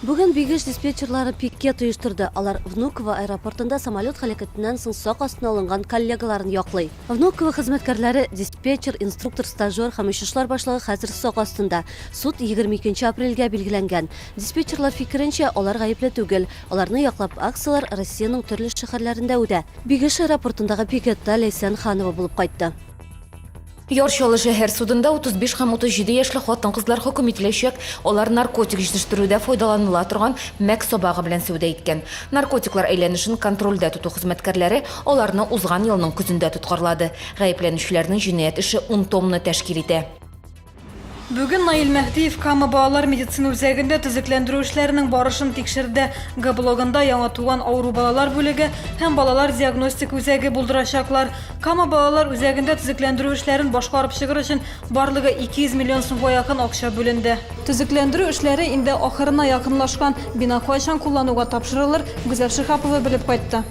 Бүген Бигеш диспетчерлары пикет оештырды. Алар Внуково аэропортында самолет һәлакәтеннән соң сак астына алынган коллегаларын яклый. Внуково хезмәткәрләре, диспетчер, инструктор, стажер һәм очышлар башлыгы хәзер сак астында. Суд 22 апрельгә билгеләнгән. Диспетчерлар фикеренчә, алар гаепле түгел. Аларны яклап акцияләр Россиянең төрле шәһәрләрендә үтә. Бигеш аэропортындагы пикетта Ләйсән Ханова булып кайтты. Яр Чаллы шәһәр судында 35 һәм 37 яшьле хатын-кызлар хөкем ителәчәк. Алар наркотик җитештерүдә файдаланыла торган мәк сабагы белән сәүдә иткән. Наркотиклар әйләнешен контрольдә тоту хезмәткәрләре аларны узган елның көзендә тоткарлады. Гаепләнүчеләрнең җинаять эше 10 томны тәшкил итә. Бүген Наил Мәһдиев Кама балалар медицина үзәгендә төзекләндерү эшләренең барышын тикшерде. Г блогында яңа туган авыру балалар бүлеге һәм балалар диагностик үзәге булдырачаклар. Кама балалар үзәгендә төзекләндерү эшләрен башкарып чыгыр өчен барлыгы 200 миллион сумга якын акча бүленде. Төзекләндерү эшләре инде ахырына якынлашкан. Бина кайчан куллануга тапшырылыр, Гүзәл Шиһапова белеп кайтты.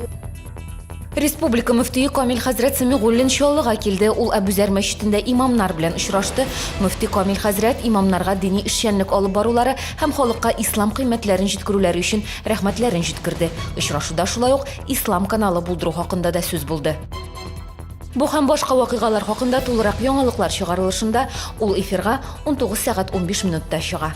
Республика мөфтие Камил хәзрәт Сәмигуллин Чаллыга килде. Ул Әбүзәр мәчетендә имамнар белән очрашты. Мөфти Камил хәзрәт имамнарга дини эшчәнлек алып барулары һәм халыкка ислам кыйммәтләрен җиткерүләре өчен рәхмәтләрен җиткерде. Очрашуда шулай ук Ислам каналы булдыру хакында да сүз булды. Бу һәм башка вакыйгалар хакында тулырак яңалыклар чыгарылышында ул эфирга 19 сәгать 15 минутта чыга.